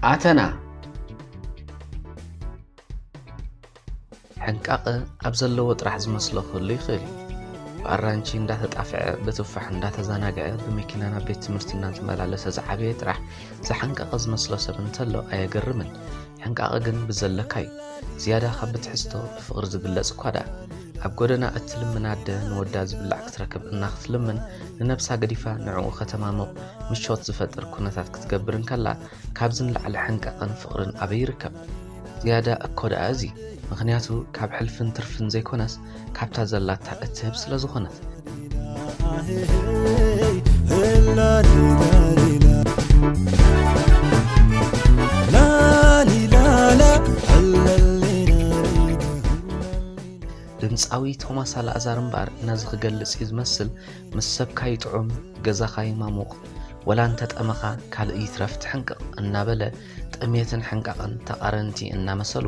ኣተና ሕንቃቐ ኣብ ዘለዎ ጥራሕ ዝመስሎ ክህሉ ይኽእል እዩ ብኣራንቺ እንዳተጣፍዐ ብትፋሕ እንዳተዘናግዐ ብመኪና ናብ ቤት ትምህርቲ እናተመላለሰ ዝዓበየ ጥራሕ ዝሓንቀቐ ዝመስሎ ሰብ እንተሎ ኣየገርምን። ሕንቃቐ ግን ብዘለካ'ዩ። ዝያዳ ካብ ብትሕዝቶ ብፍቕሪ ዝግለጽ እኳ ደኣ። ኣብ ጎደና እትልምን ኣደ ንወዳ ዝብላዕ ክትረክብ እናክትልምን ንነብሳ ገዲፋ ንዕኡ ከተማሙቕ ምቾት ዝፈጥር ኩነታት ክትገብር እንከላ ካብዚ ንላዕሊ ሕንቃቐን ፍቕርን ኣበይ ይርከብ? ዝያዳ እኮ ደኣ እዚ። ምኽንያቱ ካብ ሕልፍን ትርፍን ዘይኮነስ ካብታ ዘላታ እትህብ ስለ ዝኾነት። ድምጻዊ ቶማስ ኣልኣዛር እምበኣር ነዚ ክገልጽ እዩ ዝመስል ምስ ሰብካ ይጥዑም ገዛኻ ይማሙቕ ወላ እንተጠመኻ ካልእ ይትረፍ ትሕንቅቕ እናበለ ጥሜትን ሕንቃቕን ተቓረንቲ እናመሰሉ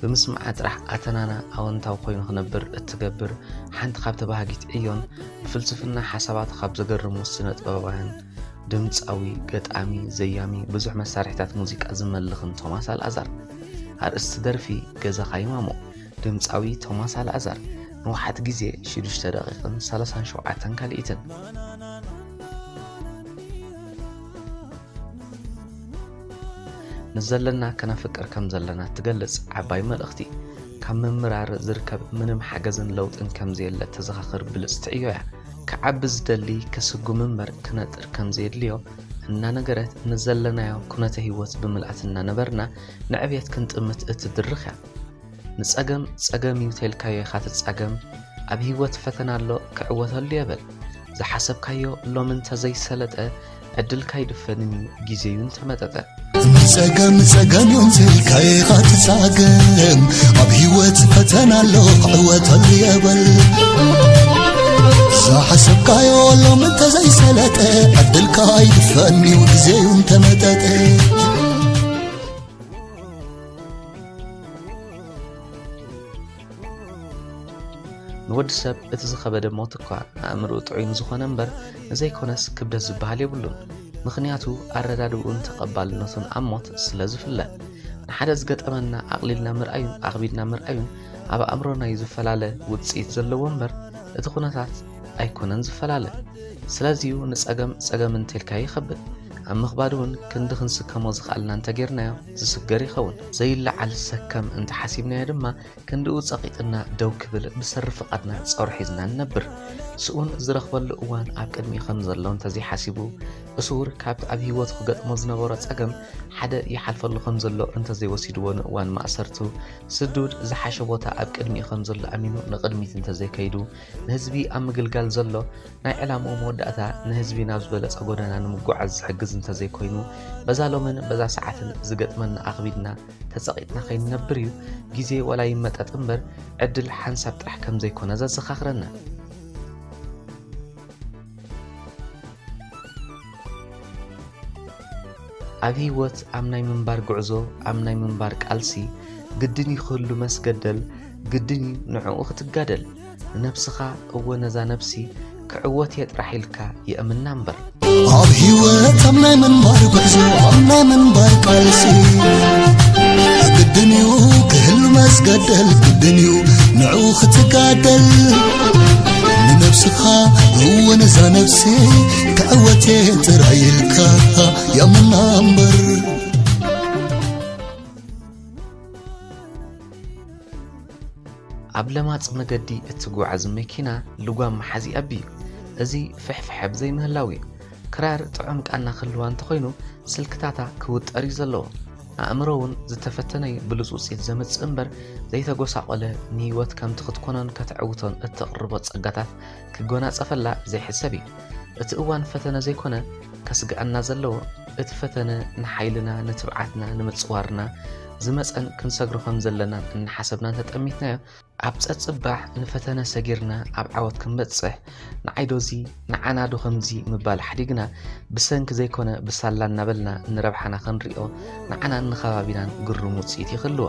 ብምስምዓ ጥራሕ ኣተናና ኣወንታዊ ኮይኑ ክነብር እትገብር ሓንቲ ካብ ተባሃጊት ዕዮን ብፍልስፍና ሓሳባት ካብ ዘገርሙ ስነ ጥበባውያን ድምፃዊ፣ ገጣሚ፣ ዘያሚ፣ ብዙሕ መሳርሒታት ሙዚቃ ዝመልኽን ቶማስ ኣልኣዛር ኣርእስቲ ደርፊ ገዛኻ ይማሞ ድምፃዊ ቶማስ ኣልኣዛር ንውሓት ግዜ 6 ደቂቕን 37 ካልኢትን ንዘለና ከነፍቅር ከም ዘለና እትገልጽ ዓባይ መልእኽቲ ካብ ምምራር ዝርከብ ምንም ሓገዝን ለውጥን ከም ዘየለ ተዘኻኽር ብልጽቲ ዕዮ እያ ክዓቢ ዝደሊ ክስጉም እምበር ክነጥር ከም ዘየድልዮ እናነገረት ንዘለናዮ ኩነተ ህይወት ብምልኣት እናነበርና ንዕብየት ክንጥምት እትድርኽ እያ ንጸገም ጸገም እዩ ተልካዮ ኢኻ ትጻገም ኣብ ህይወት ፈተና ኣሎ ክዕወተሉ የበል ዝሓሰብካዮ ሎሚ እንተዘይሰለጠ ዕድልካ ይድፈንን እዩ ግዜ እዩ እንተመጠጠ ጸገም ጸገም እዮም ዘልካየ ኻትጻገም ኣብ ህይወት ፈተና ኣሎ ክዕወተሉ የበል ዝሓሰብካዮ ሎም እንተዘይሰለጠ ዕድልካ ኣይድፈንዩ ግዜዩ እንተመጠጠ ንወዲ ሰብ እቲ ዝኸበደ ሞት እኳ ኣእምርኡ ጥዑይ ንዝኾነ እምበር ንዘይኮነስ ክብደት ዝበሃል የብሉን። ምኽንያቱ ኣረዳድኡን ተቐባልነቱን ኣብ ሞት ስለ ዝፍለ ንሓደ ዝገጠመና ኣቕሊልና ምርኣዩን ኣኽቢድና ምርኣዩን ኣብ ኣእምሮናዩ ዝፈላለ ውፅኢት ዘለዎ እምበር እቲ ኩነታት ኣይኮነን ዝፈላለ። ስለዚዩ ንፀገም ፀገም እንተልካ ይኸብድ ኣብ ምኽባድ እውን ክንዲ ክንስከሞ ዝኸኣልና እንተጌርናዮ ዝስገር ይኸውን። ዘይለዓል ሰከም እንተ ሓሲብናዮ ድማ ክንድኡ ጸቒጥና ደው ክብል ብሰሪ ፍቓድና ጾር ሒዝና ንነብር። ስኡን ዝረኽበሉ እዋን ኣብ ቅድሚኡ ከም ዘሎ እንተ ዘይሓሲቡ፣ እሱር ካብቲ ኣብ ህይወቱ ክገጥሞ ዝነበሮ ጸገም ሓደ ይሓልፈሉ ከም ዘሎ እንተ ዘይወሲድዎ ንእዋን ማእሰርቱ ስዱድ ዝሓሸ ቦታ ኣብ ቅድሚኡ ከም ዘሎ ኣሚኑ ንቕድሚት እንተ ዘይከይዱ ንህዝቢ ኣብ ምግልጋል ዘሎ ናይ ዕላምኡ መወዳእታ ንህዝቢ ናብ ዝበለጸ ጎደና ንምጉዓዝ ዝሕግዝ እንተዘይኮይኑ በዛ ሎምን በዛ ሰዓትን ዝገጥመና ኣኽቢድና ተጸቒጥና ከይንነብር እዩ ግዜ ወላ ይመጠጥ እምበር ዕድል ሓንሳብ ጥራሕ ከም ዘይኮነ ዘዘኻኽረና። ኣብ ህይወት ኣብ ናይ ምንባር ጉዕዞ ኣብ ናይ ምንባር ቃልሲ ግድን እዩ ክህሉ መስገደል ግድን እዩ ንዕኡ ክትጋደል ንነብስኻ እወ ነዛ ነብሲ ክዕወት እየ ጥራሕ ኢልካ የእምና እምበር ኣብ ህይወት ኣብ ናይ ምንባር ጉዕዞ ኣብ ናይ ምንባር ቃልሲ ግድን እዩ ክህሉ መስገደል ግድን እዩ ንዑ ክትጋደል ንነብስኻ እወ ነዛ ነብሲ ተዕወቴ ጥራይ ኢልካ ያመና እምበር ኣብ ለማፅ መገዲ እትጓዓዝ መኪና ልጓም መሓዚ ኣቢ እዚ ፍሕፍሐ ብዘይምህላው እዩ ክራር ጥዑም ቃና ክህልዋ እንተኾይኑ ስልክታታ ክውጠር እዩ ዘለዎ ኣእምሮ እውን ዝተፈተነይ ብሉፅ ውፅኢት ዘምፅእ እምበር ዘይተጎሳቆለ ንህይወት ከምቲ ክትኮኖን ከተዕውቶን እተቕርቦ ጸጋታት ክጎናጸፈላ ዘይሕሰብ እዩ። እቲ እዋን ፈተነ ዘይኮነ ከስግኣና ዘለዎ እቲ ፈተነ ንሓይልና ንትብዓትና ንምጽዋርና ዝመጸን ክንሰግሮ ከም ዘለና እናሓሰብና እንተጠሚትናዮ ኣብ ጸጽባሕ ንፈተነ ሰጊርና ኣብ ዓወት ክንበጽሕ ንዓይዶ እዚ ንዓናዶ ከምዚ ምባል ሓዲግና ብሰንኪ ዘይኮነ ብሳላ እናበልና ንረብሓና ክንሪኦ ንዓናን ንኸባቢናን ግሩም ውጽኢት ይኽልዎ።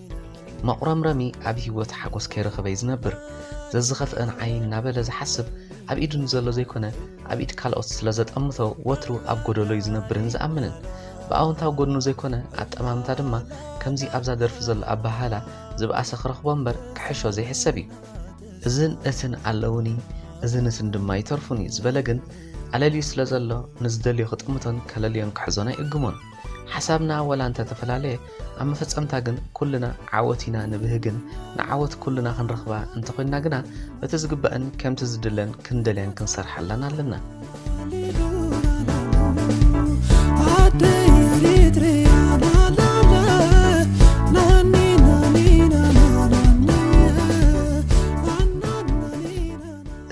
መቑረምረሚ ኣብ ህይወት ሓጎስ ከይረኸበ'ዩ ዝነብር። ዘዝኸፍእ ንዓይ እናበለ ዝሓስብ ኣብ ኢዱ ንዘሎ ዘይኮነ ኣብ ኢድ ካልኦት ስለ ዘጠምቶ ወትሩ ኣብ ጎደሎ'ዩ ዝነብርን ዝኣምንን። ብኣወንታዊ ጎድኑ ዘይኮነ ኣጠማምታ ድማ ከምዚ ኣብዛ ደርፊ ዘሎ ኣበሃህላ ዝበኣሰ ክረኽቦ እምበር ክሕሾ ዘይሕሰብ'ዩ። እዝን እትን ኣለዉኒ እዝን እትን ድማ ይተርፉኒ ዝበለ ግን ኣለልዩ ስለ ዘሎ ንዝደልዮ ክጥምቶን ከለልዮን ክሕዞን ኣይእግሞን። ሓሳብና ወላ እንተተፈላለየ ኣብ መፈጸምታ ግን ኩልና ዓወት ኢና ንብህግን ንዓወት ኩልና ክንረኽባ እንተኾይንና ግና በቲ ዝግባእን ከምቲ ዝድለን ክንደልያን ክንሰርሓላን ኣለና።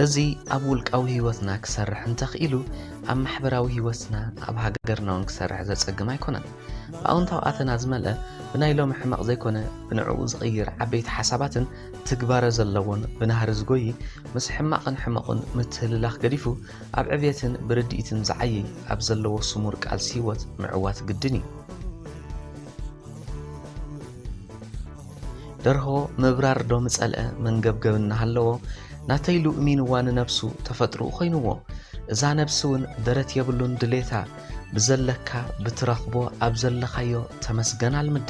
እዚ ኣብ ውልቃዊ ህይወትና ክሰርሕ እንተኽኢሉ ኣብ ማሕበራዊ ህይወትና ኣብ ሃገርና እውን ክሰርሕ ዘጸግም ኣይኮነን። ብኣውንታዊ ኣተና ዝመልአ ብናይ ሎሚ ሕመቕ ዘይኮነ ብንዕኡ ዝቕይር ዓበይቲ ሓሳባትን ትግባረ ዘለዎን ብናህሪ ዝጎይ ምስ ሕማቕን ሕመቑን ምትህልላኽ ገዲፉ ኣብ ዕብየትን ብርድኢትን ዝዓይይ ኣብ ዘለዎ ስሙር ቃልሲ ህይወት ምዕዋት ግድን እዩ። ደርሆ ምብራር ዶ ምጸልአ መንገብገብ እናሃለዎ ናተይ ኢሉ እሚንዋ ንነብሱ ተፈጥርኡ ኮይንዎ እዛ ነብሲ እውን ደረት የብሉን ድሌታ ብዘለካ ብትረኽቦ ኣብ ዘለኻዮ ተመስገን ኣልምዳ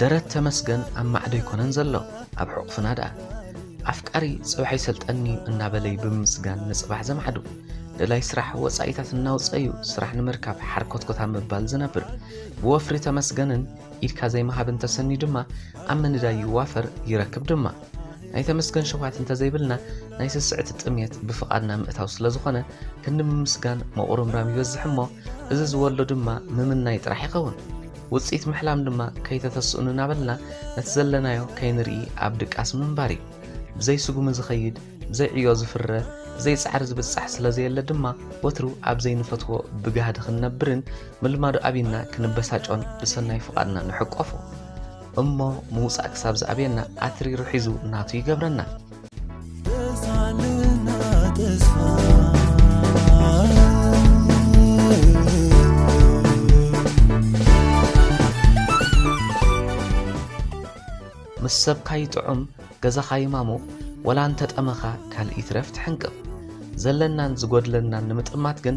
ደረት ተመስገን ኣብ ማዕዶ ኣይኮነን ዘሎ ኣብ ሕቑፍና ደኣ ኣፍቃሪ ጽባሕ ይሰልጠኒ እናበለይ ብምምስጋን ንጽባሕ ዘማዕዱ ደላይ ስራሕ ወጻኢታት እናውፀዩ ስራሕ ንምርካብ ሓርኮትኮታ ምባል ዝነብር ብወፍሪ ተመስገንን ኢድካ ዘይመሃብን ተሰንዩ ድማ ኣብ ምንዳይ ይዋፈር ይረክብ ድማ ናይ ተመስገን ሸውሃት እንተዘይብልና ናይ ስስዕቲ ጥምየት ብፍቓድና ምእታው ስለ ዝኾነ ክንዲ ምምስጋን መቑርምራም ይበዝሕ እሞ እዚ ዝወልዶ ድማ ምምናይ ጥራሕ ይኸውን ውፅኢት ምሕላም ድማ ከይተተስእኑ እናበልና ነቲ ዘለናዮ ከይንርኢ ኣብ ድቃስ ምንባር እዩ ብዘይ ስጉሚ ዝኸይድ ብዘይ ዕዮ ዝፍረ ብዘይ ጻዕሪ ዝብጻሕ ስለ ዘየለ ድማ ወትሩ ኣብ ዘይንፈትዎ ብጋህዲ ክንነብርን ምልማዱ ኣብና ክንበሳጮን ብሰናይ ፍቓድና ንሕቆፎ እሞ ምውጻእ ክሳብ ዝኣብየና ኣትሪሩ ሒዙ ናቱ ይገብረና። ምስ ሰብካ ይጥዑም ገዛኻ ይማሙቕ ወላ እንተጠመኻ ካልእ ይትረፍ ትሕንቅቕ ዘለናን ዝጎድለናን ንምጥማት ግን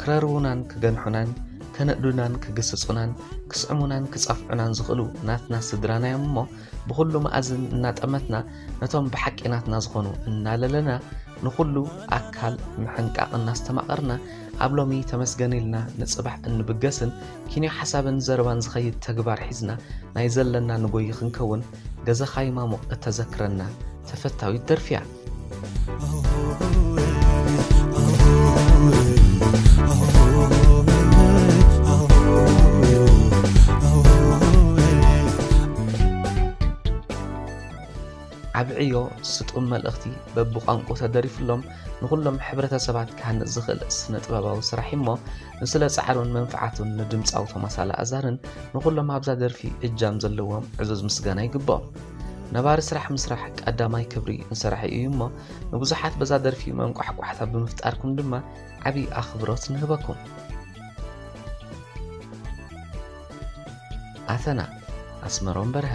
ክረርቡናን ክገንሑናን ከነእዱናን ክግስጹናን ክስዕሙናን ክጸፍዑናን ዝኽእሉ ናትና ስድራና እዮም እሞ ብዅሉ መኣዝን እናጠመትና ነቶም ብሓቂ ናትና ዝኾኑ እናለለና ንዅሉ ኣካል ምሕንቃቕ እናስተማቐርና ኣብ ሎሚ ተመስገን ኢልና ንጽባሕ እንብገስን ኪንዮ ሓሳብን ዘረባን ዝኸይድ ተግባር ሒዝና ናይ ዘለና ንጎይ ክንከውን ገዛኻ ይማሙቕ እተዘክረና ተፈታዊት ደርፊያ ዓቢ ዕዮ ስጡም መልእኽቲ በብቋንቁ ተደሪፍሎም ንኹሎም ሕብረተሰባት ክሃንጽ ዝኽእል ስነ ጥበባዊ ስራሕ እሞ ንስለ ጻዕሩን መንፍዓቱን ንድምጻዊ ቶማስ ኣልኣዛርን ንኹሎም ኣብዛ ደርፊ እጃም ዘለዎም ዕዙዝ ምስጋና ይግብኦም። ነባሪ ስራሕ ምስራሕ ቀዳማይ ክብሪ ንሰራሒ እዩ እሞ ንብዙሓት በዛ ደርፊ መንቋሕቋሕታ ብምፍጣርኩም ድማ ዓብዪ ኣኽብሮት ንህበኩም። ኣተና ኣስመሮም በርሀ